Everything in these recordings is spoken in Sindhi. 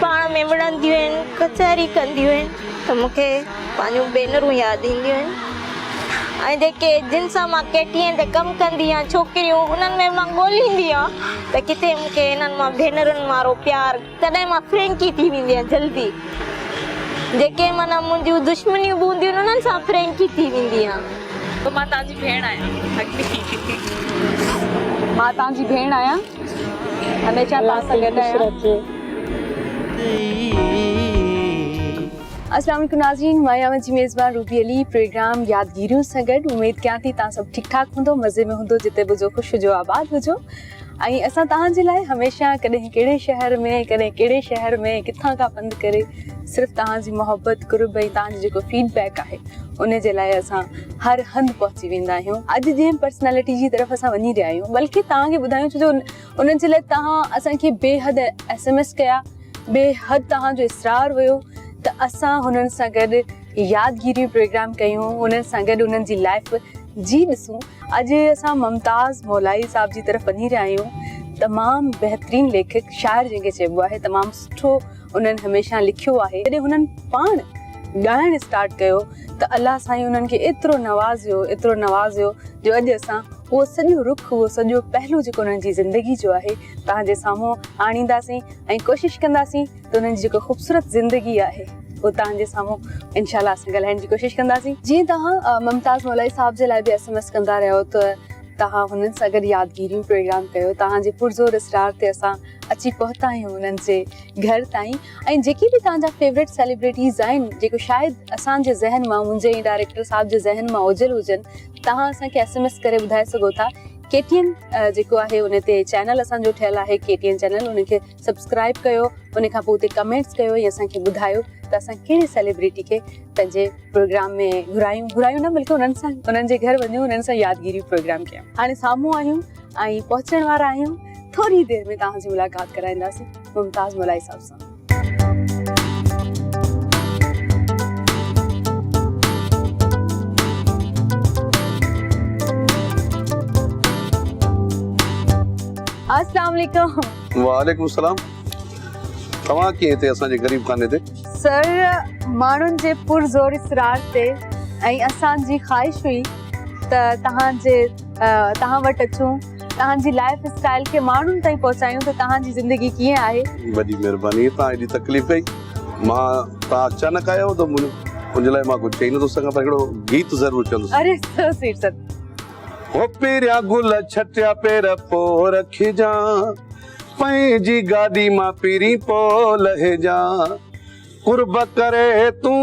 پاڻ ۾ وڙهنديون آهن، ڪچهري ڪنديون آهن ته مون کي پنهنجون ڀينرون ياد اينديون آهن ۽ جيڪي جن سان مان ڪيٽرين تي ڪم ڪندي آهيان ڇوڪريون انهن ۾ مان ڳوليندي آهيان ته ڪٿي مون کي انهن مان ڀينرن وارو پيار تڏهن مان فرينڪي ٿي ويندي آهيان جلدي جيڪي معنيٰ منهنجون دشمنيون به هونديون آهن انهن سان فرينڪي ٿي ويندي آهيان. مان تنهنجي ڀيڻ آهيان. مان تنهنجي ڀيڻ آهيان. هميشه توهان سان گڏ آهيان. السلام عليڪم ناظرين مان آهيان اوهان جي ميزبان روبي علي پروگرام يادگيريون سان گڏ اميد ڪيان ٿي توهان سڀ ٺيڪ ٺاڪ هوندو مزي ۾ هوندو جتي به هجو خوش هجو آباد هجو ۽ اسان توهان جي لاء هميشه ڪڏهن ڪهڙي شهر ۾ ڪڏهن ڪهڙي شهر ۾ ڪٿان کان پنڌ ڪري صرف توهان جي محبت قرب ۽ توهان جو جيڪو فيڊ بيڪ آهي ان جي لاء اسان هر هنڌ پهچي ويندا آهيون اڄ جنهن پرسنالٽي جي طرف اسان وڃي رهيا آهيون بلڪه توهان کي ٻڌايون ڇو جو ان جي لاء توهان اسان کي بي حد ايس ايم ايس ڪيا بي حد توهان جو اصرار هيو ته اسان هنن سان گڏ يادگيريون پروگرام ڪيون انهن سان گڏ انهن جي لائف جي ڏسون اڄ اسان ممتاز مولائي صاحب جي طرف وڃي رهيا آهيون تمام بهترين ليکڪ شاعر جنهن کي چئبو آهي تمام سٺو انهن هميشه لکيو آهي جڏهن هنن پاڻ ڳائڻ اسٽارٽ ڪيو ته الله سائين انهن کي ايترو نوازيو ايترو نوازيو جو اڄ اسان اهو سڄو رخ اهو سڄو پهلو جيڪو انهن جي زندگي جو آهي توهان جي سامهون آڻينداسين ۽ ڪوشش ڪنداسين ته انهن جي جيڪو خوبصورت زندگي آهي اهو توهان جي سامهون انشاء الله اسان ڳالهائڻ جي ڪوشش ڪنداسين جيئن توهان ممتاز مولائي صاحب جي لاء به ايس ايم ايس ڪندا رهيو ته توهان هنن سان گڏ يادگيريون پروگرام ڪيو توهان جي پرزور اسرار تي اسان اچي پهتا آهيون انهن جي گهر تائين ۽ جيڪي به توهان جا فيورٽ سيليبريٽيز آهن جيڪو شايد اسان جي ذهن مان منهنجي ۽ ڊائريڪٽر صاحب جي ذهن مان اوجهل هجن توهان اسان کي ايس ايم ايس ڪري ٻڌائي سگهو ٿا ڪي ٽي اين جيڪو آهي ان تي چينل اسان جو ٺهيل آهي ڪي ٽي اين چينل ان کي سبسڪرائب ڪيو ان کان پوء اتي ڪمينٽس ڪيو ۽ اسان کي ٻڌايو ته اسان ڪهڙي سيليبريٽي کي پنهنجي پروگرام ۾ گهرايون گهرايون نه بلڪه انهن سان انهن جي گهر وڃون انهن سان يادگيري پروگرام ڪيون هاڻي سامهون آهيون ۽ پهچڻ وارا آهيون ٿوري دير ۾ توهان جي ملاقات ڪرائينداسين ممتاز مولائي صاحب سان السلام عليڪم وعليڪم السلام توهان ڪيئن هتي اسان جي غريب خاني تي سر ماڻهن جي پرزور اصرار تي ۽ اسان جي خواهش هئي ته توهان جي توهان وٽ اچون توهان جي لائيف اسٽائيل کي ماڻهن تائين پهچايون ته توهان جي زندگي ڪيئن آهي وڏي مهرباني توهان ايڏي تڪليف ڪئي مان توهان اچانڪ آيو ته ان جي لاء مان ڪجهه چئي نٿو سگهان پر هڪڙو گيت ضرور چوندس اري سو سيٽ سر هو پيريا گل ڇٽيا پير پو رکجان پنهنجي گاڏي مان پيري پو لهجان قرب ڪري تون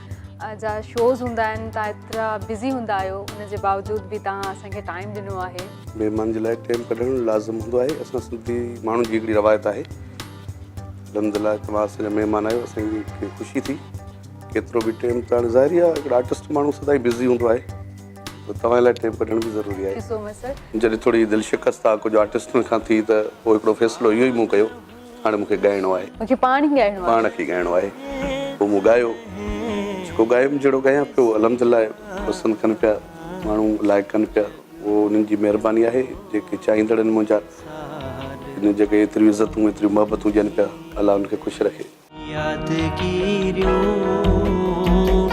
جا شوز هوندا آهن تان ايترا بزي هوندا آهيو ان جي باوجود به تان اسان کي ٽائيم ڏنو آهي. مهمان جي لاء ٽيم ڪڍڻ لازم هوندو آهي اسان سنڌي ماڻهن جي هڪڙي روايت آهي الحمدلله توهان اسان جا مهمان آهيو اسان کي خوشي ٿي ڪيترو به ٽيم ته هاڻي ظاهري آهي هڪڙو آرٽسٽ ماڻهو سدائين بزي هوندو آهي ته توهان لاء ٽيم ڪڍڻ به ضروري آهي جڏهن ٿوري دل شڪست آهي ڪجهه آرٽسٽن کان ٿي ته پوء هڪڙو فيصلو اهو ئي مون ڪيو هاڻي مون کي ڳائڻو آهي. مون کي پاڻ ئي ڳائڻو آهي. پاڻ کي ڳائڻو آهي. پوء مون ڳايو. جيڪو ڳايم جهڙو ڳايان پيو الحمدلله پسند ڪن پيا ماڻهو لائق ڪن پيا اهو انهن جي مهرباني آهي جيڪي چاهيندڙ آهن منهنجا انهن جي اڳيان ايتريون عزتون ايتريون محبتون ڏين پيا الله انهن کي خوش رکي. يادگيريون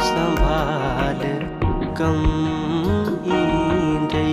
سنڀال ڪم ايندي.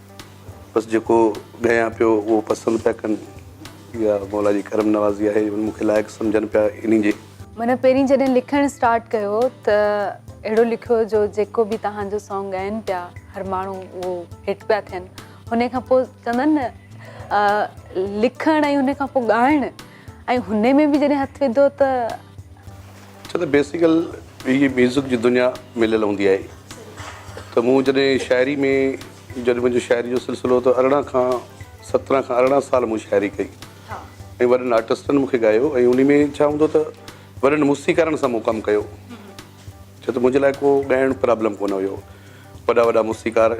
بس جيڪو ڳايان پيو اهو پسند پيا ڪن. اها مولا جي ڪرم نوازي آهي جو مون کي لائق سمجهن پيا انهي جي. منهن پهرين جڏهن لکڻ اسٽارٽ ڪيو ته اهڙو لکيو جو جيڪو به توهان جو سانگ ڳائن پيا هر ماڻهو اهو هٽ پيا ٿين انهي کان پوء چوندن نه لکڻ ۽ انهي کان پوء ڳائڻ ۽ هن ۾ به جڏهن هٿ وڌو ته. ڇو ته بيسيڪل هي ميوزڪ جي دنيا مليل هوندي آهي ته مون جڏهن شاعري ۾ جڏهن منهنجو شاعري جو سلسلو ته ارڙهن کان سترهن کان ارڙهن سال مون شاعري ڪئي ۽ وڏن آرٽسٽن مون کي ڳايو ۽ انهي ۾ ڇا هوندو ته وڏن موسيقارن سان مون ڪم ڪيو ڇو ته منهنجي لاء ڪو ڳائڻ پرابلم ڪونه هيو وڏا وڏا موسيقار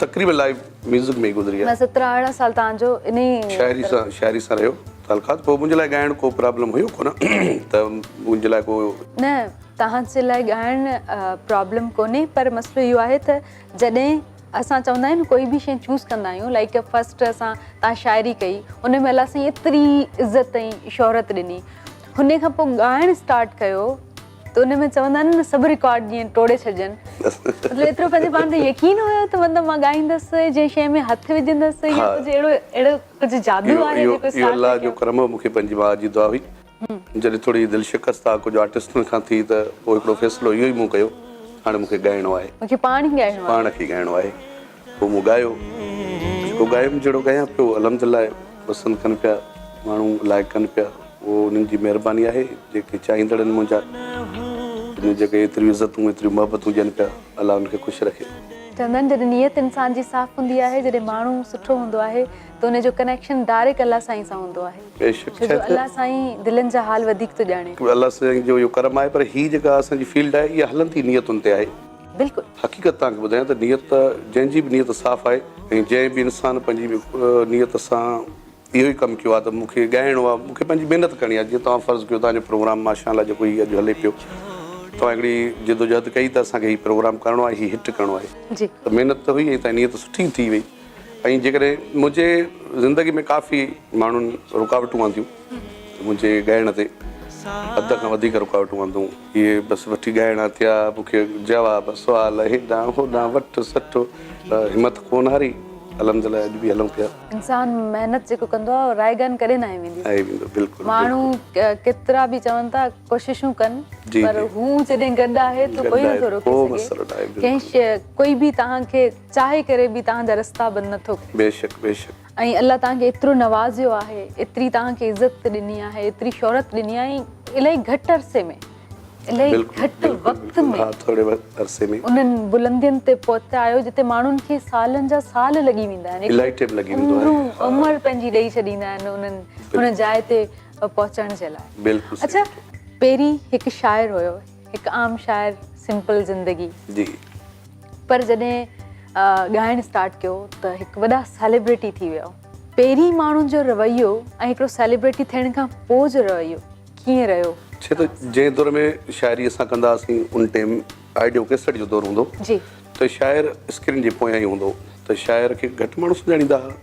تقريب لائيو ميوزڪ ۾ ئي گذري آهي. سترهن ارڙهن سال تهان جو انهي شاعري سان شاعري سان رهيو تعلقات پوء منهنجي لاء ڳائڻ ڪو پرابلم هيو ڪونه ته منهنجي لاء ڪو. نه تهان جي لاء ڳائڻ پرابلم ڪونهي پر مسئلو اهو آهي ته جڏهن اسان چوندا آهيون نه ڪوئي به شي چوز ڪندا آهيون لائيڪ فرسٽ اسان تهان شاعري ڪئي ان ۾ الله سائين ايتري عزت ۽ شهرت ڏني هن کان پوء ڳائڻ اسٽارٽ ڪيو ته ان ۾ چوندا آهن نه سڀ رڪارڊ جيئن ٽوڙي ڇڏجن مطلب ايترو پنهنجي پاڻ تي يقين هيو ته مطلب مان ڳائيندس جنهن شيء ۾ هٿ وجهندس يا ڪجهه اهڙو اهڙو ڪجهه جادو آهي جيڪو اسٽارٽ اهو الله جو ڪرم هو مون کي پنهنجي ماء جي دعا هئي جڏهن ٿوري دل شڪست آ ڪجهه آرٽسٽن کان ٿي ته پوء هڪڙو فيصلو اهو ئي مون ڪيو هاڻي مون کي ڳائڻو آهي مون کي پاڻ ئي ڳائڻو آهي پاڻ کي ڳائڻو آهي هو مون ڳايو جيڪو ڳايم جهڙو ڳايان پيو الحمدالله پسند ڪن پيا ماڻهو لائق ڪن پيا اهو انهن جي مهرباني آهي جيڪي چاهيندڙ آهن منهنجا انهن جيڪي ايتريون عزتون ايتريون محبتون ڏين پيا الله انهن کي خوش رکي. چوندا آهن جڏهن نيت انسان جي صاف هوندي آهي جڏهن ماڻهو سٺو هوندو آهي ته ان جو ڪنيڪشن ڊائريڪٽ الله سائين سان هوندو آهي بيشڪ ڇو جو الله سائين دلين جا حال وڌيڪ ٿو ڄاڻي. الله سائين جو اهو ڪرم آهي پر هي جيڪا اسان جي فيلڊ آهي اها هلندي نيتن تي آهي. بلڪل. حقيقت توهان کي ٻڌايان ته نيت جنهن جي به نيت صاف آهي ۽ جنهن به انسان پنهنجي نيت سان اهو ئي ڪم ڪيو آهي ته مون کي ڳائڻو آهي مون کي پنهنجي محنت ڪرڻي آهي جيئن توهان فرض ڪيو توهان جو پروگرام ماشاء الله جيڪو هي اڄ هلي پيو توهان هڪڙي جدوجهد ڪئي ته اسان کي هي پروگرام ڪرڻو آهي هي هٽ ڪرڻو آهي جي ته محنت ته هئي ۽ توهان جي نيت سٺي ٿي وئي ۽ جيڪڏهن منهنجي زندگي ۾ ڪافي ماڻهن رڪاوٽون آنديون منهنجي ڳائڻ تي حد کان وڌيڪ رڪاوٽون آندون. هي بس وٺي ڳائڻا ٿيا. مون کي جواب سوال هيڏانهن هوڏانهن وٺ سٺ ته همٿ ڪونه هاري. الحمدلله اڄ به هلون پيا. انسان محنت جيڪو ڪندو آهي رايگان ڪڏهن نه آئي ويندي. آئي ويندو بلڪل. ماڻهو ڪيترا به چون ٿا ڪوششون ڪن پر هو جڏهن گڏ آهي ته ڪوئي نٿو روڪي سگهي. ڪنهن شيء ڪوئي به توهان کي چاهي ڪري به توهان جا رستا بند نٿو ڪري. بيشڪ بيشڪ. ۽ الله توهان کي ايترو نوازيو آهي ايتري توهان کي عزت ڏني آهي ايتري شهرت ڏني آهي الائي گهٽ عرصي ۾ الائي گهٽ وقت ۾ ها ٿوري عرصي ۾ انهن بلندين تي پهتا آهيو جتي ماڻهن کي سالن جا سال لڳي ويندا آهن الائي ٽيم لڳي ويندو آهي ها عمر پنهنجي ڏئي ڇڏيندا آهن انهن هن جاء تي پهچڻ جي لاء بلڪل صحيح اڇا پهرين هڪ شاعر هيو هڪ عام شاعر سمپل زندگي جي پر جڏهن ڳائڻ اسٽارٽ ڪيو ته هڪ وڏا سيليبريٽي ٿي ويو پهرين ماڻهن جو رويو ۽ هڪڙو سيليبريٽي ٿيڻ کان پوء جو رويو ڪيئن رهيو ڇي ته جنهن دور ۾ شاعري اسان ڪندا هئاسين ان ٽيم آئيڊيو ڪيسٽ جو دور هوندو جي ته شاعر اسڪرين جي پويان ئي هوندو ته شاعر کي گهٽ ماڻهو سڃاڻيندا هئا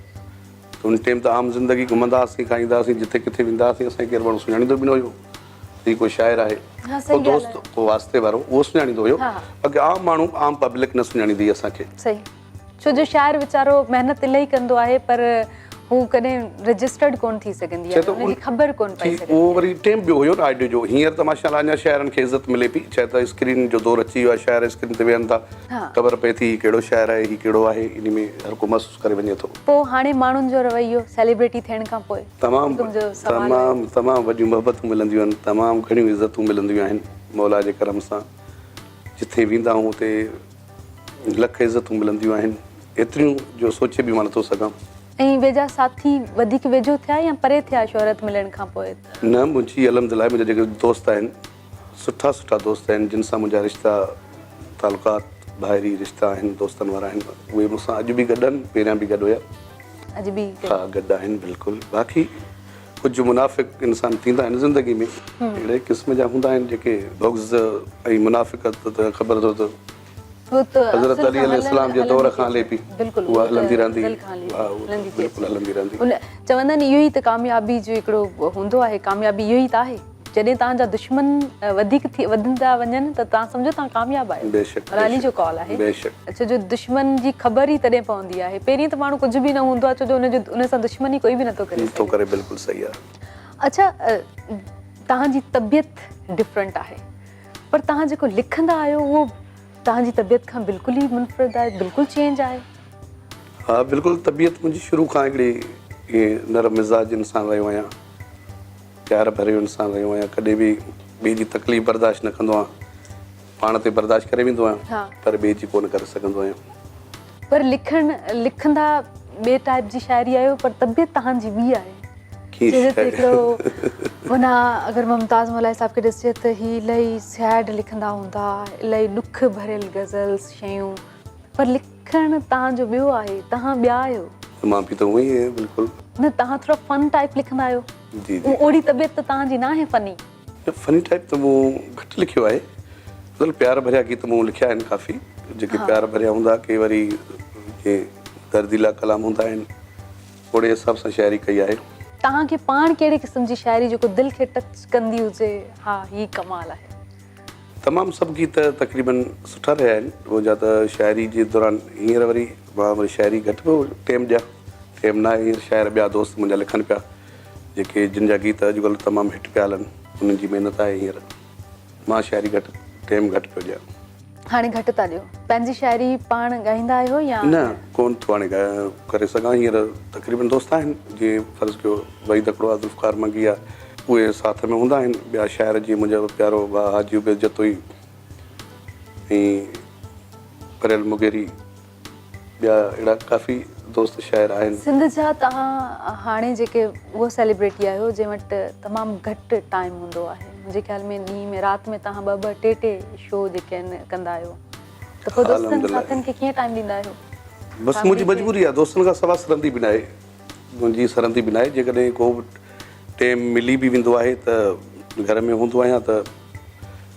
ته ان ٽيم ته عام زندگي گهمندا هئاسين کائيندا هئاسين جتي ڪٿي ويندا هئاسين اسان کي ڪير ماڻهو سڃاڻيندو به نه هيو هي ڪو شاعر آهي، ڪو دوست، ڪو واسطي وارو، اهو سڃاڻيندو هيو، باقي عام ماڻهو، عام پبلڪ نه سڃاڻيندي هئي اسان کي. صحيح. ڇو جو شاعر ويچارو محنت الائي ڪندو آهي پر هو ڪڏهن رجسٽرڊ ڪونه ٿي سگهندي آهي، ان جي خبر ڪونه پئي سگهندي آهي. اهو وري ٽيم ٻيو هيو نه آڊيو جو، هينئر ته ماشاء الله اڃا شاعرن کي عزت ملي پئي، ڇا ته اسڪرين جو دور اچي ويو آهي، شاعر اسڪرين تي ويهن ٿا، خبر پئي ٿي هي ڪهڙو شاعر آهي، هي ڪهڙو آهي، انهي ۾ هر ڪو مست. ڪري وڃي ٿو. پوء هاڻي ماڻهن جو رويو سيليبريٽي ٿيڻ کان پوء تمام تمام تمام وڏيون محبتون ملنديون آهن تمام گهڻيون عزتون ملنديون آهن مولا جي ڪرم سان جتي ويندا آهون اتي لک عزتون ملنديون آهن ايتريون جو سوچي به مان نٿو سگهان. ۽ ويجها ساٿي وڌيڪ ويجهو ٿيا يا پري ٿيا شهرت ملڻ کان پوء ته. نه منهنجي الحمدلله منهنجا جيڪي دوست آهن سٺا سٺا دوست آهن جن سان منهنجا رشتا تعلقات ڀائري رشتا آهن دوستن وارا آهن اهي مون سان اڄ به گڏ آهن پهريان به گڏ هيا اڄ به ها گڏ آهن بلڪل باقي ڪجهه منافق انسان ٿيندا آهن زندگي ۾ اهڙي قسم جا هوندا آهن جيڪي بغض ۽ منافقت ته خبر اٿو ته حضرت علي عليه السلام جي دور کان هلي پئي اها هلندي رهندي اها بلڪل هلندي رهندي چوندا آهن اهو ئي ته ڪاميابي جو هڪڙو هوندو آهي ڪاميابي اهو ئي ته آهي جڏهن توهان جا دشمن وڌيڪ ٿي وڌندا وڃن ته توهان سمجهو توهان ڪامياب آهيو بيشڪ بيشڪ علي جو قول آهي بيشڪ ڇو جو دشمن جي خبر ئي تڏهن پوندي آهي پهرين ته ماڻهو ڪجهه به نه هوندو آهي ڇو جو ان جو ان سان دشمني ڪوئي به نٿو ڪري نٿو ڪري بلڪل صحيح آهي اڇا توهان جي طبيعت ڊفرنٽ آهي پر توهان جيڪو لکندا آهيو اهو توهان جي طبيعت کان بلڪل ئي منفرد آهي بلڪل چينج آهي. ها بلڪل طبيعت منهنجي شروع کان هڪڙي ائين نرم مزاج انسان رهيو آهيان پيار ڀريو انسان رهيو آهيان ڪڏهن به ٻئي جي تڪليف برداشت نه ڪندو آهيان پاڻ تي برداشت ڪري ويندو آهيان پر ٻئي جي ڪونه ڪري سگهندو آهيان. پر لکڻ لکندا ٻئي ٽائيپ جي شاعري آهيو پر طبيعت تهان جي ٻي آهي سيرت هڪڙو هنا اگر ممتاز ملائي صاحب کي ڏسجي ته هي الائي سيئڊ لکندا هوندا الائي ڏک ڀريل غزلس شيون پر لکڻ تهان جو ٻيو آهي تهان ٻيا آهيو مان به ته اهو ئي آهيان بلڪل نه تهان ٿورا فن ٽائيپ لکندا آهيو جي جي اهڙي طبيعت ته تهان جي ناهي فني فني ٽائيپ ته مون گهٽ لکيو آهي مطلب پيار ڀريا گيت مون لکيا آهن ڪافي جيڪي پيار ڀريا هوندا ڪي وري ڪي درديلا ڪلام هوندا آهن اوڙي حساب سان شاعري ڪئي آهي. توهان کي پاڻ ڪهڙي قسم جي شاعري جيڪو دل کي ٽچ ڪندي هجي ها هي ڪمال آهي. تمام سڀ گيت تقريبن سٺا رهيا آهن هو جا ته شاعري جي دوران هينئر وري مان وري شاعري گهٽ پيو ٽيم ڏيان ٽيم ناهي هينئر شاعر ٻيا دوست منهنجا لکن پيا. جيڪي جن جا گيت اڄ ڪلهه تمام هٽ پيا هلن انهن جي محنت آهي هينئر مان شاعري گهٽ ٽيم گهٽ پيو ڏيان. هاڻي گهٽ ٿا ڏيو. پنهنجي شاعري پاڻ ڳائيندا آهيو يا؟ نه ڪون ٿو هاڻي ڳايان ڪري سگهان هينئر تقريبن دوست آهن جيئن فرض ڪيو وحيد اکڙو آ ذوالفقار منگي آ اهي ساٿ ۾ هوندا آهن ٻيا شاعر جيئن منهنجا پيارو ڀاء حاجي عبيد جتوئي ۽ پريل مغيري. ٻيا اهڙا ڪافي دوست شاعر آهن. سنڌ جا توهان هاڻي جيڪي اهو سيليبريٽي آهيو جنهن وٽ تمام گهٽ ٽائيم هوندو آهي منهنجي خيال ۾ ڏينهن ۾ رات ۾ توهان ٻه ٻه ٽي ٽي شو جيڪي آهن ڪندا آهيو ته پوء دوستن ساٿين کي ڪيئن ٽائيم ڏيندا آهيو بس منهنجي مجبوري آهي دوستن کان سوا سرندي به ناهي منهنجي سرندي به ناهي جيڪڏهن ڪو به ٽيم ملي به ويندو آهي ته گهر ۾ هوندو آهيان ته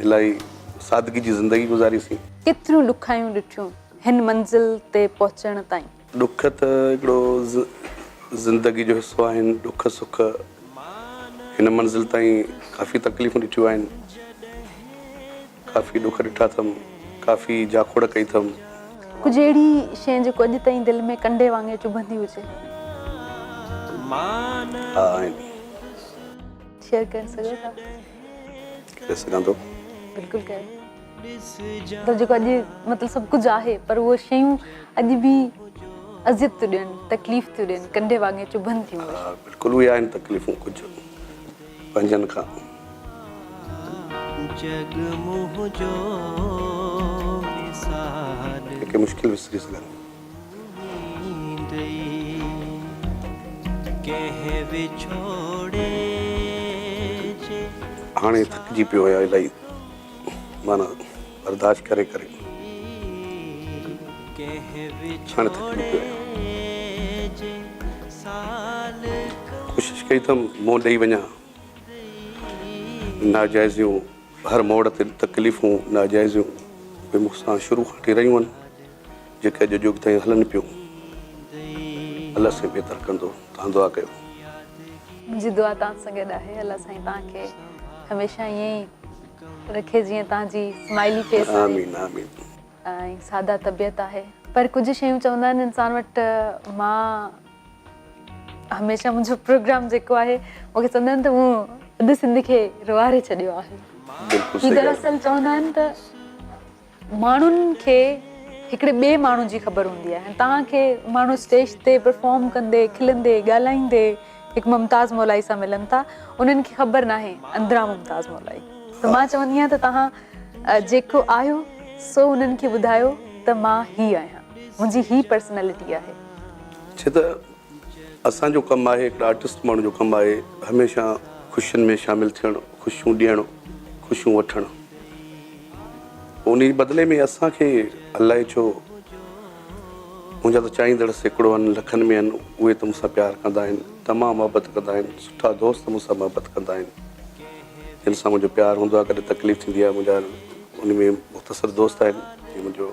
الائي سادگي جي زندگي گذاري سين. ڪيتريون ڏکايون ڏٺيون هن منزل تي پهچڻ تائين. ڏک ته هڪڙو زندگي جو حصو آهن ڏک سک هن منزل تائين ڪافي تڪليفون ڏٺيون آهن ڪافي ڏک ڏٺا اٿم ڪافي جاکوڙ ڪئي اٿم. ڪجهه اهڙي شين جيڪو اڄ تائين دل ۾ ڪنڊي وانگي چڀندي هجي. ها آهن. شيئر ڪري سگهو ٿا. ڪري سگهان ٿو. بلڪل ڪيو مطلب جيڪو اڄ مطلب سڀ ڪجهه آهي پر اهي شيون اڄ به اذيت ٿيون ڏين تڪليف ٿيون ڏين ڪنڊي واڱي چڀن ٿيون ها بلڪل اهي آهن تڪليفون ڪجهه پنهنجن کان جڳ منهنجو مثال ڪي ڪي مشڪل وسري سگهن هاڻي ٿڪجي پيو آهيان الائي معنيٰ برداشت ڪري ڪري هاڻي ٿڪجي پيو آهيان ڪوشش ڪئي ته منهن ڏئي وڃان ناجائزيون هر موڙ تي تڪليفون ناجائزيون مون سان شروع کان وٺي رهيون آهن جيڪي اڄ جوڳ تائين هلن پيون. الله سائين بهتر ڪندو توهان دعا ڪيو. منهنجي دعا توهان سان گڏ آهي الله سائين توهان کي هميشه ائين ئي رکي جيئن توهان جي سمائلي فيس آهي آمين آمين. ۽ ساده طبيعت آهي پر ڪجهه شيون چوندا آهن انسان وٽ مان هميشه منهنجو پروگرام جيڪو آهي مون کي چوندا آهن ته مون اڌ سنڌ کي روئاري ڇڏيو آهي بلڪل سھي ڳالھ. دراصل چوندا آهن ته. ماڻهن کي هڪڙي ٻئي ماڻهو جي خبر هوندي آهي ۽ توهان کي ماڻهو اسٽيج تي پرفارم ڪندي کلندي ڳالهائيندي هڪ ممتاز مولائي سان ملن ٿا انهن کي خبر ناهي اندران ممتاز مولائي ته مان چوندي آهيان ته توهان جيڪو آهيو سو انهن کي ٻڌايو ته مان هي آهيان منهنجي هي پرسنالٽي آهي اسان جو ڪم آهي هڪڙي آرٽسٽ ماڻهو جو ڪم آهي هميشه خوشين ۾ شامل ٿيڻ خوشيون ڏيڻ خوشيون وٺڻ انهي جي بدلي ۾ اسان کي الائي ڇو منهنجا ته چاهيندڙ سيڪڙو آهن لکن ۾ آهن اهي ته مون سان پيار ڪندا آهن تمام محبت ڪندا آهن سٺا دوست مون سان محبت ڪندا آهن جن سان منهنجو پيار هوندو آهي ڪڏهن تڪليف ٿيندي آهي منهنجا ان ۾ مختصر دوست آهن جي منهنجو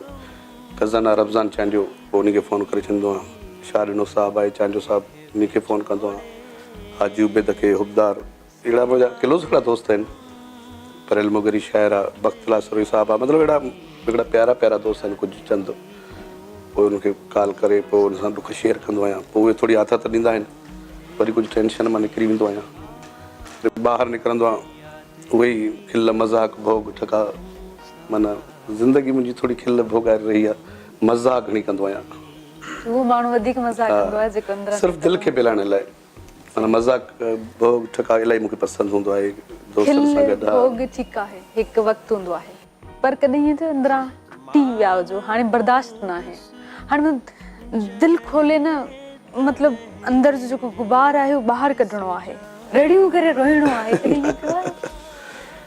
خزانه رمضان چانڊيو پوء انهي کي فون ڪري چوندو آهيان شاهه ڏنو صاحب آهي چانڊيو صاحب انهي کي فون ڪندو آهيان حاجي عبيد کي حبدار اهڙا منهنجا ڪلوز هڪڙا دوست آهن پريل مغري شاعر آ بخت لاسروهي صاحب آ مطلب اهڙا هڪڙا پيارا پيارا دوست آهن ڪجهه چند پوء انهن کي ڪال ڪري پوء انهن سان ڏک شيئر ڪندو آهيان پوء اهي ٿوري آٿت ڏيندا آهن وري ڪجهه ٽينشن مان نڪري ويندو آهيان وري ٻاهر نڪرندو آهيان اهي ئي کل مذاق ڀوڳ ٺڪا. معنيٰ زندگي منهنجي ٿوري کل ڀوڳائي رهي آهي. مزاح گهڻي ڪندو آهيان. اهو ماڻهو وڌيڪ مزاح ڪندو آهي جيڪو اندران صرف دل کي ڀيلائڻ لاء. معنيٰ مزاح ڀوڳ ٺڪاء الائي مون کي پسند هوندو آهي. دوستن سان گڏ. کل ڀوڳ ٺيڪ آهي. هڪ وقت هوندو آهي. پر ڪڏهن هيئن ٿيو اندران ٽي ويا هجو هاڻي برداشت ناهي. هاڻي دل کولي نه مطلب اندر جو جيڪو غبار آهي اهو ٻاهر ڪڍڻو آهي. رڙيون ڪري روئڻو آهي. ڪڏهن هيئن ٿيو آهي.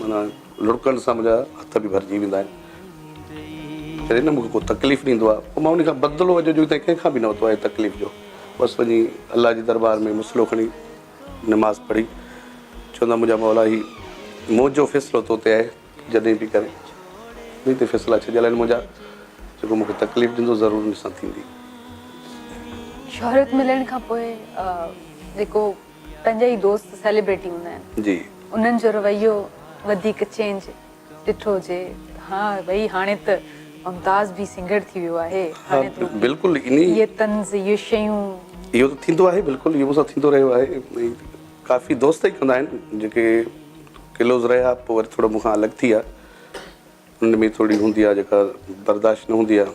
معنيٰ لڙڪڻ سان منهنجا هٿ به ڀرجي ويندا آهن. جڏهن نه مون کي ڪو تڪليف ڏيندو آهي پوء مان ان کان بدلو اڄ جو تائين ڪنهن کان به نه ورتو آهي تڪليف جو. بس وڃي الله جي دربار ۾ مصلو کڻي نماز پڙهي چوندا منهنجا مولا هي منهنجو فيصلو تو تي آهي تون جڏهن به ڪرين انهي تي فيصلا ڇڏيل آهن منهنجا جيڪو مون کي تڪليف ڏيندو ضرور ان سان ٿيندي. شهرت ملڻ کان پوء جيڪو پنهنجا ئي دوست سيليبريٽي هوندا آهن انهن جو رويو وڌيڪ چينج ڏٺو هجي ها ڀئي هاڻي ته ممتاز به سنگر ٿي ويو آهي هاڻي ته بلڪل اهي طنز اهي شيون اهو ته ٿيندو آهي بلڪل اهو مون سان ٿيندو رهيو آهي ڪافي دوست ئي ڪندا آهن جيڪي ڪلوز رهيا پوء وري ٿورو مون کان الڳ ٿي ويا انهن ۾ ٿورڙي هوندي آهي جيڪا برداشت نه هوندي آهي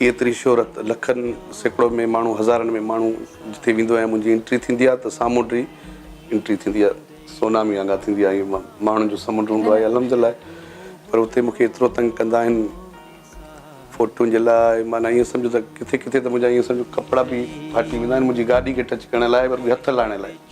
هي ايتري شهرت، لکن سيڪڙو ۾ ماڻهو هزارن ۾ ماڻهو جتي ويندو آهيان منهنجي انٽري ٿيندي آهي ته سامونڊي انٽري ٿيندي آهي سونامي وانگر ٿيندي آهي هي ماڻهن جو سمنڊ هوندو آهي الحمدلله پر اتي مونکي ايترو تنگ ڪندا آهن فوٽون جي لاء معنيٰ ائين سمجهو ته ڪٿي ڪٿي ته منهنجا ائين سمجهو ڪپڙا به ڦاٽي ويندا آهن منهنجي گاڏي کي ٽچ ڪرڻ لاء پر به هٿ لاهڻ لاء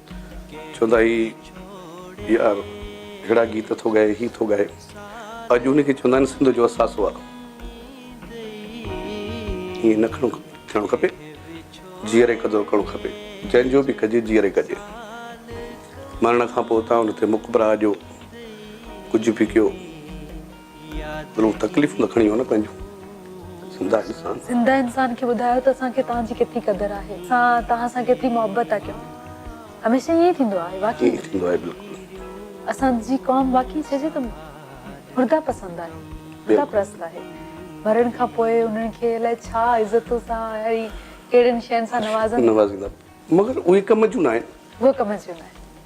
چوندا هي يار ههڙا گيت ٿو ڳائي هي ٿو ڳائي اڄ ان کي چوندا آهن سنڌ جو اثاثو آ ائين نه کڻو ٿيڻو کپي جيئري قدر ڪرڻو کپي جنهن جو به ڪجي جيئري ڪجي مرڻ کان پوء تان ان تي مقبرا جو ڪجهه به ڪيو ضرور تڪليفون ته کڻي هو نه پنهنجون زنده انسان. زنده انسان کي ٻڌايو ته اسان کي توهان جي ڪيتري قدر آهي اسان توهان سان ڪيتري محبت ٿا ڪيون هميشه ائين ئي ٿيندو آهي واقعي ائين ٿيندو آهي بلڪل. اسان جي قوم واقعي چئجي ته مرده پسند آهي مرده پرست آهي مرڻ کان پوء انهن کي الائي ڇا عزتون سان ۽ ڪهڙين شين سان نوازن نوازيندا مگر اهي ڪم جون ناهن اهي ڪم جون ناهن.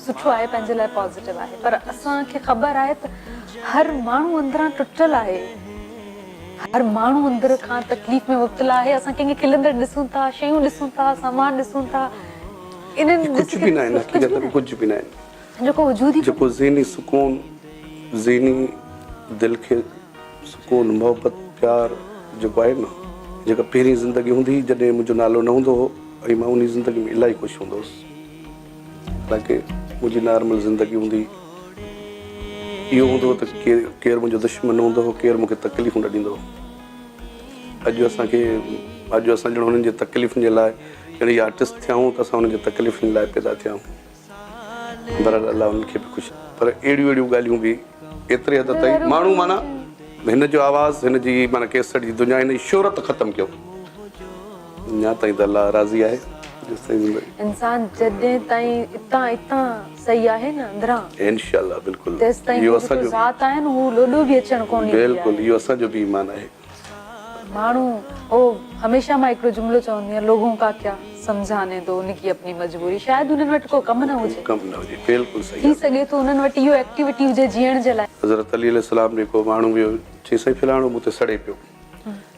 سٺو آهي پنهنجي لاء پازيٽو آهي پر اسان کي خبر آهي ته هر ماڻهو اندران ٽٽل آهي هر ماڻهو اندر کان تڪليف ۾ مبتلا آهي اسان ڪنهن کي کلندڙ ڏسون ٿا شيون ڏسون ٿا سامان ڏسون ٿا انهن ڪجهه به ناهي حقيقت ۾ ڪجهه به ناهي جيڪو وجود ئي جيڪو ذهني سڪون ذهني دل کي سڪون محبت پيار جيڪو آهي نه جيڪا پهرين زندگي هوندي جڏهن منهنجو نالو نه هوندو هو ۽ مان انهي زندگي ۾ الاهي خوش هوندو هوس. حالانڪه منهنجي نارمل زندگي هوندي هئي. اهو هوندو هو ته ڪير منهنجو دشمن هوندو هو، ڪير مون کي تڪليفون نه ڏيندو هو. اڄ اسان کي اڄ اسان ڄڻ هنن جي تڪليفن جي لاء ڄڻ هي آرٽسٽ ٿيا آهيون ته اسان هنن جي تڪليفن لاء پيدا ٿيا آهيون. بهرحال الله هنن کي به خوش رکي. پر اهڙيون اهڙيون ڳالهيون به ايتري حد تائين ماڻهو معنيٰ هن جو آواز هن جي معنيٰ ڪيسٽ جي دنيا هن جي شهرت ختم ڪيو. اڃا تائين ته الله راضي آهي جيستائين زندگي. انسان جڏهن تائين اتان اتان سهي آهي نه اندران. انشاء الله بلڪل تيستائين اهو جيڪو ذات آهي نه هو لوڏو به اچڻ ڪونهي ڏيندي آهي. بلڪل اهو اسان جو به ايمان آهي. ماڻهو هو هميشه مان هڪڙو جملو چوندي آهيان لوگون ڪا ڪيا سمجهاني دو ان ڪي اپني مجبوري شايد انهن وٽ ڪو ڪم نه هجي. ڪم نه هجي بلڪل صحيح ٿي سگهي ٿو انهن وٽ اهو ايڪٽيوٽي هجي جيئڻ جي لاء. حضرت علي عليه السلام جيڪو ماڻهو ويو چيس سائين فلاڻو مون تي سڙي پيو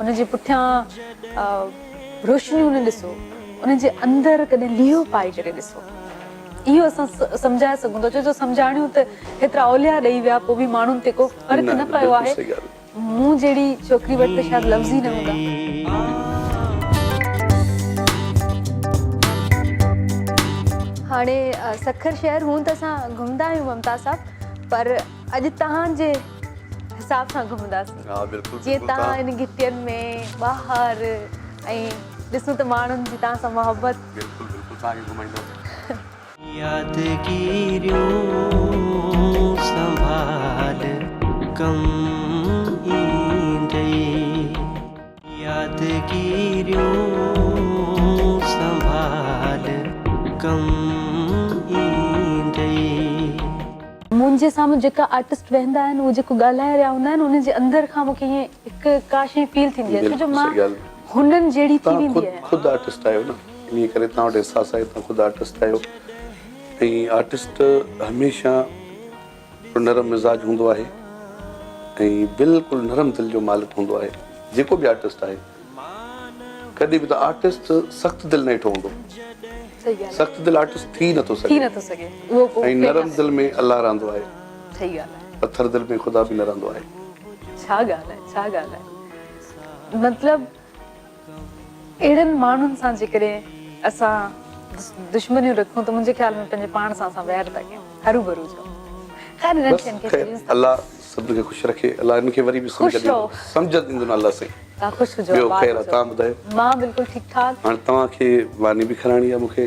ان جي پٺيان روشنيون نه ڏسو، ان جي اندر ڪڏهن ليئو پائي ڪري ڏسو. اهو اسان سمجهائي سگهون ٿا، ڇو جو سمجهاڻيون ته هيترا اولياء ڏئي ويا، پوء به ماڻهن تي ڪو فرق نه پيو آهي. مون جهڙي ڇوڪري وٽ ته شايد لفظ ئي نه هوندا. هاڻي سکر شهر هونئن ته اسان گهمندا آهيون ممتاز صاحب پر. اڄ توهان جي حساب سان گهمنداسين جيئن توهان هن گهٽين ۾ ٻاهر ۽ ڏسون ته ماڻهن جي توهان سان محبت بلڪل بلڪل توهان کي گهمائينداسين يادگيريون سنڀال ڪم ايندي. يادگيريون سنڀال ڪم ايندئي. منهنجي سامهون جيڪا آرٽسٽ ويهندا آهن اهي جيڪو ڳالهائي رهيا هوندا آهن انهن جي اندر کان مونکي ائين هڪ ڪا شيء فيل ٿيندي آهي ڇو جو مان هنن جهڙي ٿي ويندي آهيان. توهان خود آرٽسٽ آهيو نه انهي ڪري توهان وٽ احساس آهي توهان خود آرٽسٽ آهيو ۽ آرٽسٽ هميشه نرم مزاج هوندو آهي ۽ بلڪل نرم دل جو مالڪ هوندو آهي جيڪو به آرٽسٽ آهي ڪڏهن به ته آرٽسٽ سخت دل نه ڏٺو هوندو سخت دل آرٽسٽ ٿي نٿو سگهي ۽ نرم دل ۾ الله رهندو آهي پٿر دل ۾ خدا به نه رهندو آهي ڇا ڳالهه آهي ڇا ڳالهه آهي مطلب اهڙن ماڻهن سان جيڪڏهن اسان دشمنيون رکون ته منهنجي خيال ۾ پنهنجي پاڻ سان اسان وير ٿا ڪيون هروڀرو جو خير هنن کي ان کي سڄي سان الله سڀني کي خوش رکي الله هنن کي وري به سمجهه ڏيندو سمجهه ڏيندو نه الله سائين تان خوش هجو ٻيو خير آ تان ٻڌايو مان بلڪل ٺيڪ ٺاڪ هاڻي توهان کي ماني به کارائڻي آ مونکي.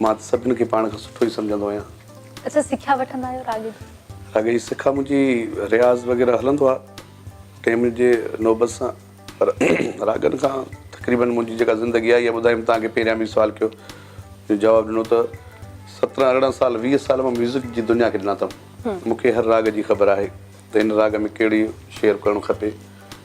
مان ته سڀن کي پاڻ کان سٺو ئي سمجهندو آهيان. اچا سکيا وٺندا آهيو راڳ جي؟ راڳ جي سکا منهنجي رياض وغيره هلندو آهي ٽئين منٽ جي نوبت سان پر راڳن کان تقريبن منهنجي جيڪا زندگي آئي آهي ٻڌايم توهان کي پهريان به سوال ڪيو جو جواب ڏنو ته سترهن ارڙهن سال ويهه سال مان ميوزڪ جي دنيا کي ڏنا اٿم مون کي هر راڳ جي خبر آهي ته هن راڳ ۾ ڪهڙي شعر ڪرڻو کپي.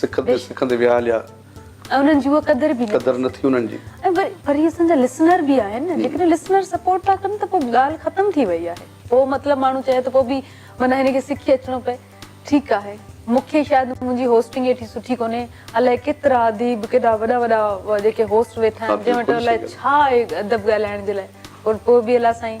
سکندي سکندي ويا هليا. ۽ انهن جي اها قدر به نه ٿي. قدر نه ٿي انهن جي. ۽ وري وري اسان جا لسنر به آهن نه جيڪڏهن لسنر سپورٽ ٿا ڪن ته پوء ڳالهه ختم ٿي وئي آهي. پوء مطلب ماڻهو چاهي ته پوء به معنيٰ هن کي سکي اچڻو پئي. ٺيڪ آهي. مون کي شايد منهنجي هوسٽنگ ايتري سٺي ڪونهي. الائي ڪيترا اديب ڪيڏا وڏا وڏا جيڪي هوسٽ ويٺا آهن جنهن وٽ الائي ڇا آهي ادب ڳالهائڻ جي لاء. پر پوء به الا سائين.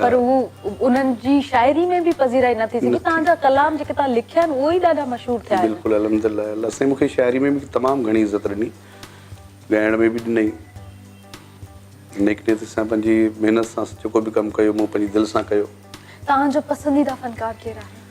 پر هو انهن جي شاعري ۾ به پذيرائي نه ٿي سگهي توهان جا ڪلام جيڪي توهان لکيا آهن اهي ئي ڏاڍا مشهور ٿيا آهن بلڪل الحمد الله الله سائين مون کي شاعري ۾ به تمام گهڻي عزت ڏني ڳائڻ ۾ به ڏني نيڪ نيت سان پنهنجي محنت سان جيڪو به ڪم ڪيو مون پنهنجي دل سان ڪيو توهان جو پسنديده فنڪار ڪير آهي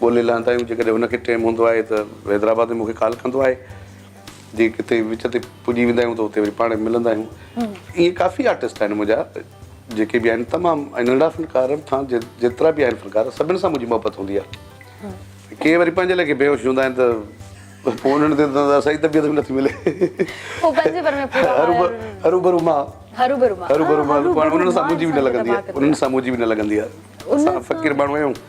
ڳولي لهندا آهيون جيڪڏهن هن کي ٽيم هوندو آهي ته حيدرآباد ۾ مون کي ڪال ڪندو آهي جي ڪٿي وچ تي پڄي ويندا آهيون ته اتي وري پاڻ ملندا آهيون ائين ڪافي آرٽسٽ آهن منهنجا جيڪي به آهن تمام ۽ ننڍا فنڪار کان جيترا به آهن فنڪار سڀني سان منهنجي محبت هوندي آهي ڪي وري پنهنجي ليکي بيهوش هوندا آهن ته پوء انهن تي ته سائي طبيعت به نٿي ملي هروڀرو مان هروڀرو مان انهن سان منهنجي به نه لڳندي آهي انهن سان منهنجي به نه لڳندي آهي اسان فقير ماڻهو آهيون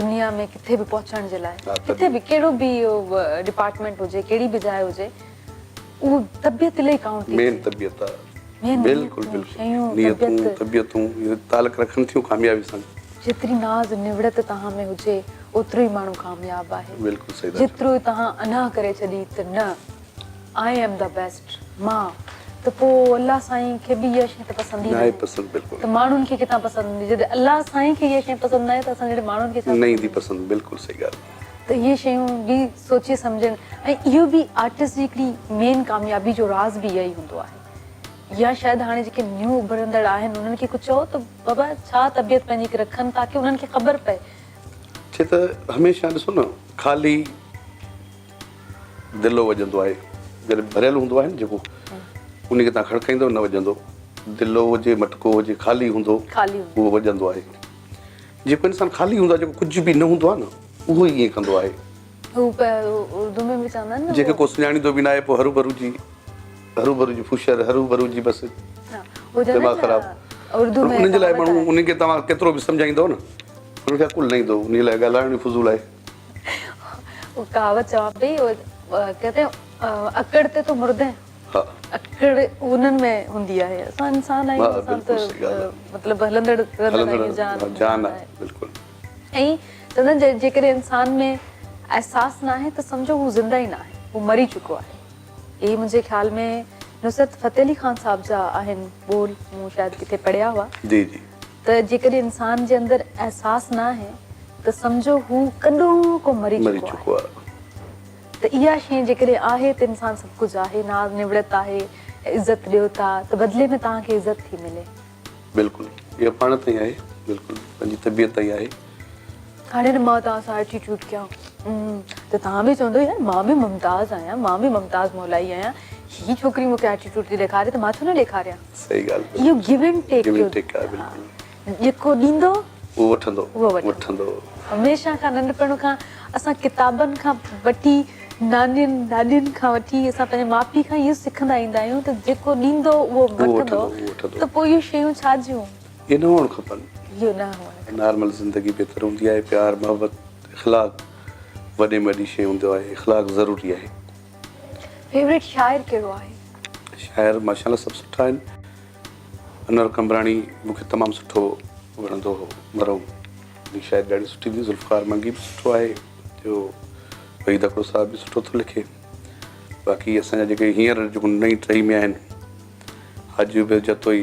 دنيا ۾ ڪٿي به پهچڻ جي لاء ڪٿي به ڪهڙو به ڊپارٽمينٽ هجي ڪهڙي به جاء هجي اهو طبيعت لئي ڪائونٽ ٿي مين طبيعت آ بلڪل نيتون طبيعتون تعلق رکن ٿيون ڪاميابي سان جيتري ناز نوڙت توهان ۾ هجي اوترو ئي ماڻهو ڪامياب آهي بلڪل صحيح جيترو توهان انا ڪري ڇڏي ته نه آء ايم دا بيسٽ مان ته پو الله سائين کي به اها شي ته پسند ئي ناهي پسند بلڪل ته ماڻهن کي ڪٿان پسند هوندي جڏهن الله سائين کي اها شي پسند ناهي ته اسان جهڙي ماڻهن کي ڇا نه ايندي پسند بلڪل صحيح ڳالهه ته اهي شيون به سوچي سمجهن ۽ اهو به آرٽسٽ جي هڪڙي مين ڪاميابي جو راز به اهو ئي هوندو آهي يا شايد هاڻي جيڪي نيو اڀرندڙ آهن انهن کي ڪجهه چئو ته بابا ڇا طبيعت پنهنجي رکن تاڪي انهن کي خبر پئي ڇي ته هميشه ڏسو نه خالي دلو وڄندو آهي جڏهن ڀريل هوندو آهي نه جيڪو ان کي تان کڙڪائيندو نه وڄندو دلو هجي مٽڪو هجي خالي هوندو اهو وڄندو آهي جيڪو انسان خالي هوندو آهي جيڪو ڪجهه به نه هوندو آهي نه اهو ئي ائين ڪندو آهي جيڪي ڪو سڃاڻيندو به نه آهي پوء هرو ڀرو جي هرو ڀرو جي فوشر هرو ڀرو جي بس دماغ خراب انهن جي لاء ماڻهو انهن کي تمام ڪيترو به سمجهائيندو نه انهن کي عقل نه ايندو انهن جي لاء ڳالهائڻ فضول آهي اهو ڪهاوت چوان پئي ڪهتي هين اڪڙ تي تو مرده هين اڪڙ انهن ۾ هوندي آهي اسان انسان آهيون اسان ته مطلب هلندڙ رهندڙ جان آهي بلڪل ۽ چوندا آهن جيڪڏهن انسان ۾ احساس ناهي ته سمجهو هو زنده ئي ناهي هو مري چڪو آهي اهي منهنجي خيال ۾ نصرت فتح علي خان صاحب جا آهن ٻول مون شايد ڪٿي پڙهيا هئا جي جي ته جيڪڏهن انسان جي اندر احساس نه آهي ته سمجهو هو ڪڏهن ڪو مري چڪو آهي ته اها شيء جيڪڏهن آهي ته انسان سڀ ڪجهه آهي، ناز نوڙت آهي ۽ عزت ڏيو ٿا ته بدلي ۾ توهان کي عزت ٿي ملي. بلڪل اها پاڻ تائين آهي بلڪل پنهنجي طبيعت تائين آهي. هاڻي ته مان توهان سان ايٽيٽيوڊ ڪيان ته توهان به چوندو يار مان به ممتاز آهيان مان به ممتاز مولائي آهيان هي ڇوڪري مون کي ايٽيٽيوڊ ٿي ڏيکاري ته مان ڇو نه ڏيکاريان صحيح ڳالهه اهو گيو اينڊ ٽيڪ جو جيڪو ڏيندو اهو وٺندو اهو وٺندو هميشه کان ننڍپڻ کان اسان ڪتابن کان وٺي نانين ڏاڏين کان وٺي اسان پنهنجي ماء پيء کان اهو سکندا ايندا آهيون ته جيڪو ڏيندو اهو وٺندو ته پوء اهي شيون ڇا جون اهي نه هئڻ کپن. اهي نه هئڻ کپن. نارمل زندگي بهتر هوندي آهي. پيار محبت اخلاق وڏي ۾ وڏي شي هوندو آهي. اخلاق ضروري آهي. فيوريٽ شاعر ڪهڙو آهي؟ شاعر ماشاءالله سڀ سٺا آهن. انور قمبراڻي مون کي تمام سٺو وڻندو هو مرحوم جي شاعري ڏاڍي سٺي هوندي ذوالفقار منگي به سٺو آهي جو وحيد اکڙو صاحب به سٺو ٿو لکي باقي اسان جا جيڪي هينئر جيڪو نئين ٽهي ۾ آهن حاجي عبيد جتوئي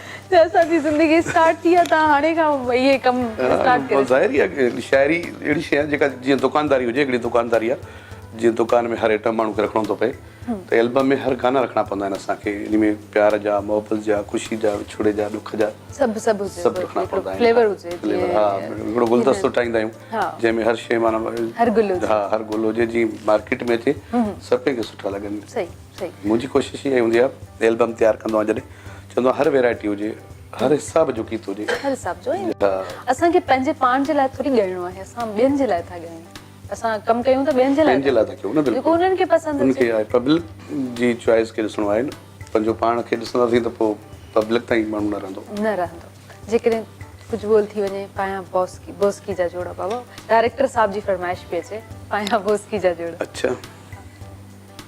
ته اسان جي زندگي اسٽارٽ ٿي آ تان هاڻي کان اهي ڪم اسٽارٽ ڪريو. ظاهر ئي آ ڪه شاعري اهڙي شئي آ جيڪا جيئن دڪانداري هجي هڪڙي دڪانداري آ جيئن دڪان ۾ هر ائٽم ماڻهو کي رکڻو ٿو پئي ته البم ۾ هر گانا رکڻا پوندا آهن اسان کي انهي ۾ پيار جا محبت جا خوشي جا وڇوڙي جا ڏک جا سڀ سڀ هجي سڀ رکڻا پوندا آهن فليور هجي فليور ها هڪڙو گلدستو ٺاهيندا آهيون جنهن ۾ هر شئي معنيٰ هر گل هجي ها هر گل هجي جيئن مارڪيٽ ۾ اچي سڀ ڪنهن کي سٺا لڳن صحيح منهنجي ڪوشش اها ئي هوندي آهي البم تيار ڪندو آهيان جڏهن چوندو آهيان هر ويرائٽي هجي هر حساب جو گيت هجي هر حساب جو اسان کي پنهنجي پاڻ جي لاء ٿوري ڳائڻو آهي اسان ٻين جي لاء ٿا ڳايون اسان ڪم ڪيون ته ٻين جي لاء جي لاء ٿا ڪيون نه بلڪل انهن کي پسند انهن کي پبلڪ جي چوائس کي ڏسڻو آهي نه پنهنجو پاڻ کي ڏسنداسين ته پوء پبلڪ تائين ماڻهو نه رهندو نه رهندو جيڪڏهن ڪجهه ٻول ٿي وڃي پايان بوسڪي بوسڪي جا جوڙا بابا ڊائريڪٽر صاحب جي فرمائش پئي اچي پايان بوسڪي جا جوڙا اڇا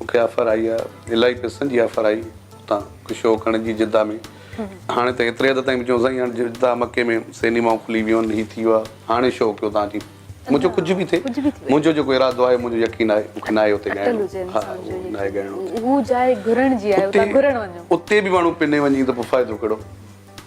مون کي آفر آئي آ الاهي پئسن جي آفر آئي اتان هڪ شو ڪرڻ جي جده ۾ هاڻي ته ايتري حد تائين به چون سائين هاڻي جده مڪي ۾ سينيمائون کلي ويون آهن هي ٿي ويو آهي هاڻي شو ڪيو تان جي منهنجو ڪجهه به ٿئي منهنجو جيڪو ارادو آهي منهنجو يقين آهي مون کي ناهي اتي ڳائڻو ها ناهي ڳائڻو هو جاء گهرڻ جي آهي اتي گهرڻ وڃو اتي به ماڻهو پني وڃي ته پوء فائدو ڪهڙو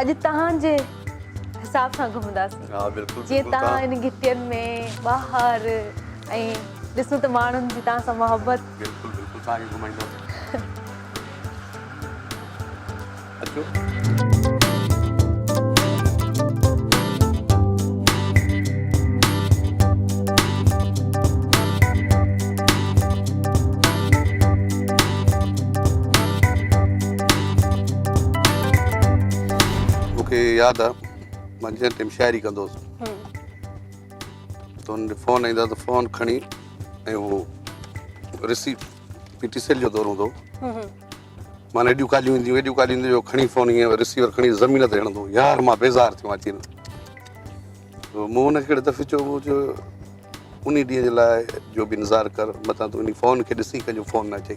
اڄ تهان جي حساب سان گهمنداسين جيئن تهان هن گهٽين ۾ ٻاهر ۽ ڏسون ته ماڻهن جي تهان سان محبت بلڪل بلڪل تهان کي گهمائينداسين مون کي ياد آ مان جنهن ٽيم شاعري ڪندو هوس ته هن فون ايندا ته فون کڻي ۽ هو رسي پي ٽي سيل جو دور هوندو هو مان ايڏيون ڪاليون اينديون ايڏيون ڪاليون اينديون جو کڻي فون ائين رسيور کڻي زمين تي هڻندو يار مان بيزار ٿيو اچي مون هن کي ڪهڙي دفعي چيو هو جو ان ڏينهن جي لاء جو بي نظار ڪر متان تون ان فون کي ڏسي ڪنهنجو فون نه اچي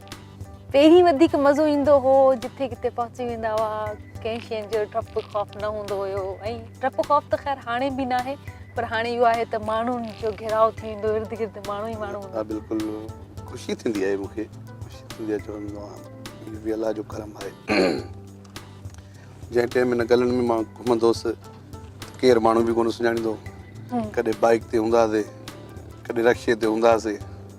پهرين وڌيڪ مزو ايندو هو جتي ڪٿي پهچي ويندا هئا ڪنهن شين جو ڊپ خوف نه هوندو هيو ۽ ڊپ خوف ته خير هاڻي به ناهي پر هاڻي اهو آهي ته ماڻهن جو گهيراء ٿي ويندو ارد گرد ماڻهو ئي ماڻهو هوندا بلڪل خوشي ٿيندي آهي مونکي خوشي ٿيندي آهي چوندو آهي هي به الله جو ڪرم آهي جنهن ٽيم هن گلن ۾ مان گهمندو هوس ڪير ماڻهو به ڪونه سڃاڻيندو ڪڏهن بائيڪ تي هوندا هاسي ڪڏهن رڪشي تي هوندا هاسي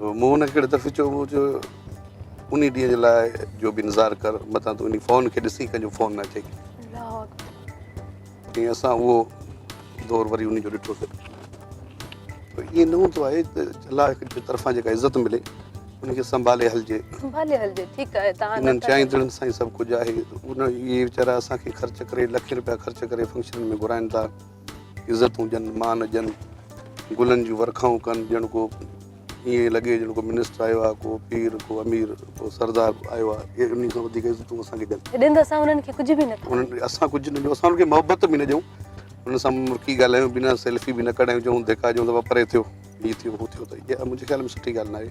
مون ان کي ڪهڙي دفعي چيو هو جو انهي ڏينهن جي لاء جو به انتظار ڪر متان تون انهي فون کي ڏسين ڪنهن جو فون نه اچي ۽ اسان اهو دور وري انهي جو ڏٺو سي ته ائين نه هوندو آهي ته الله جي طرفان جيڪا عزت ملي ان کي سنڀالي هلجي سنڀالي هلجي ٺيڪ آهي توهان انهن چائيندڙن سان ئي سڀ ڪجهه آهي اهي ويچارا اسان کي خرچ ڪري لکين روپيا خرچ ڪري فنڪشنن ۾ گهرائين ٿا عزتون ڏين، مان ڏين، گلن جون ورکائون ڪن، ڄڻ ڪو ائين لڳي ڄڻ ڪو منسٽر آيو آهي، ڪو پير، ڪو امير، ڪو سردار آيو آهي، انهن کان وڌيڪ عزتون اسان کي ڏين. ڏين ته اسان انهن کي ڪجهه به نه ٿا ڏيون. اسان ڪجهه نه ڏيون، اسان انهن کي محبت به نه ڏيون، انهن سان مرڪي ڳالهايون به نه، سيلفي به نه ڪڍايون، چئون ڌڪا ڏيون ته ڀا پري ٿيو، هي ٿيو، هو ٿيو ته اها منهنجي خيال ۾ سٺي ڳالهه نه آهي.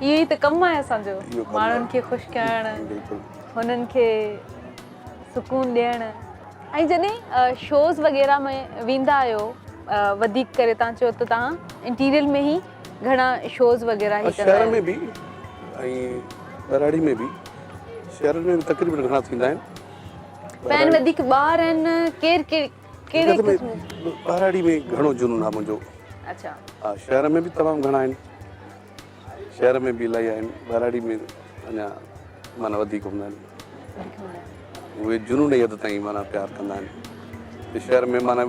اهو ئي ته ڪم آهي اسان جو ماڻهن کي خوش ڪرڻ هنن کي سڪون ڏيڻ ۽ جڏهن شوز وغيره ۾ ويندا آهيو وڌيڪ ڪري تان چيو ته تان انٽيريل ۾ هي گهڻا شوز وغيره هي ڪندا آهيو شهر ۾ به ۽ ٻهراڙي ۾ به شهر ۾ تقريبا گهڻا ٿيندا آهن پهن وڌيڪ ٻار آهن ڪير ڪير ڪير ٻهراڙي ۾ گهڻو جنون آهي منهنجو اچھا شهر ۾ به تمام گهڻا آهن شهر ۾ به الائي آهن ٻهراڙي ۾ اڃا معنيٰ وڌيڪ هوندا آهن اهي جنوني حد تائين معنيٰ پيار ڪندا آهن شهر ۾ معنيٰ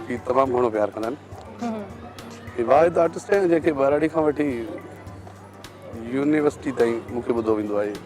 جي تمام گهڻو پيار ڪندا آهن واحد آرٽسٽ آهن جنهن کي ٻهراڙي کان وٺي يونيورسٽي تائين مون کي ٻڌو ويندو آهي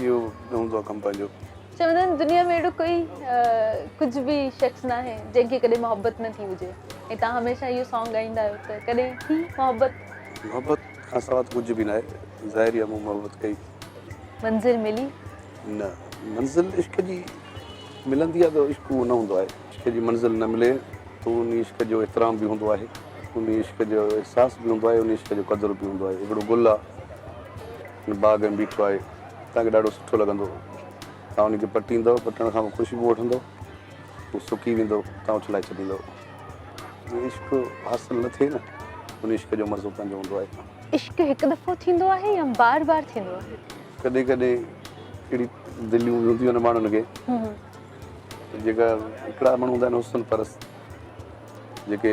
اهو نه هوندو آهي ڪم پنهنجو. چوندا آهن دنيا ۾ اهڙو ڪوئي ڪجهه به شخص ناهي جنهن کي ڪڏهن محبت نه ٿي هجي ۽ تهان هميشه اهو سانگ ڳائيندا آهيو ته ڪڏهن ٿي محبت. محبت کان سوا ته ڪجهه به ناهي ظاهري آهي مون محبت ڪئي. منزل ملي. نه منزل عشق جي ملندي آهي ته عشق اهو نه هوندو آهي. عشق جي منزل نه ملي ته ان عشق جو احترام به هوندو آهي ان عشق جو احساس به هوندو آهي ان عشق جو قدر به هوندو آهي هڪڙو گل آهي. هن باغ ۾ بيٺو آهي. توهان کي ڏاڍو سٺو لڳندو. توهان ان کي پٽيندؤ. پٽڻ کان پوء خوشبو وٺندؤ. هو سڪي ويندو. توهان اڇلائي ڇڏيندؤ. جيئن عشق حاصل نه ٿئي نه، ان عشق جو مزو پنهنجو هوندو آهي. عشق هڪ دفعو ٿيندو آهي يا بار بار ٿيندو آهي؟ ڪڏهن ڪڏهن اهڙي دليون به هونديون آهن ماڻهن کي جيڪا هڪڙا ماڻهو هوندا آهن حسن پرست جيڪي.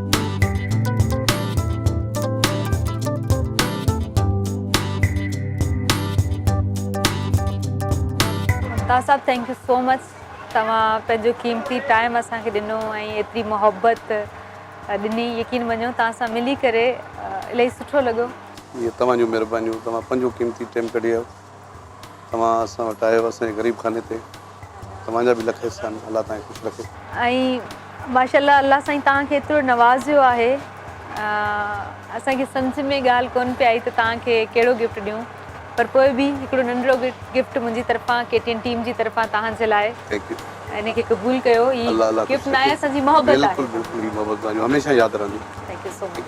تاج صاحب ٿينڪ يو سو مچ توهان پنهنجو قيمتي ٽائيم اسان کي ڏنو ۽ ايتري محبت ڏني يقين مڃو توهان سان ملي ڪري الاهي سٺو لڳو. اهي توهان جون مهربانيون توهان پنهنجو قيمتي ٽائيم ڪڍي آيو. توهان اسان وٽ آيو اسان جي غريب خاني تي توهان جا به لک احسان الله توهان کي خوش رکي. ۽ ماشاءالله الله سائين توهان کي ايترو نوازيو آهي اسان کي سمجھ ۾ ڳالھ ڪون پئي آئي ته توهان کي ڪهڙو گفٽ ڏيون پر پوء به هڪڙو ننڍڙو گفٽ منهنجي طرفان ڪي ٽي اين ٽيم جي طرفان توهان جي لاء ان کي قبول ڪيو هي گفٽ ناهي اسان جي محبت آهي بلڪل بلڪل هي محبت توهان جون هميشه ياد رهنديون ٿينڪ يو سو مچ.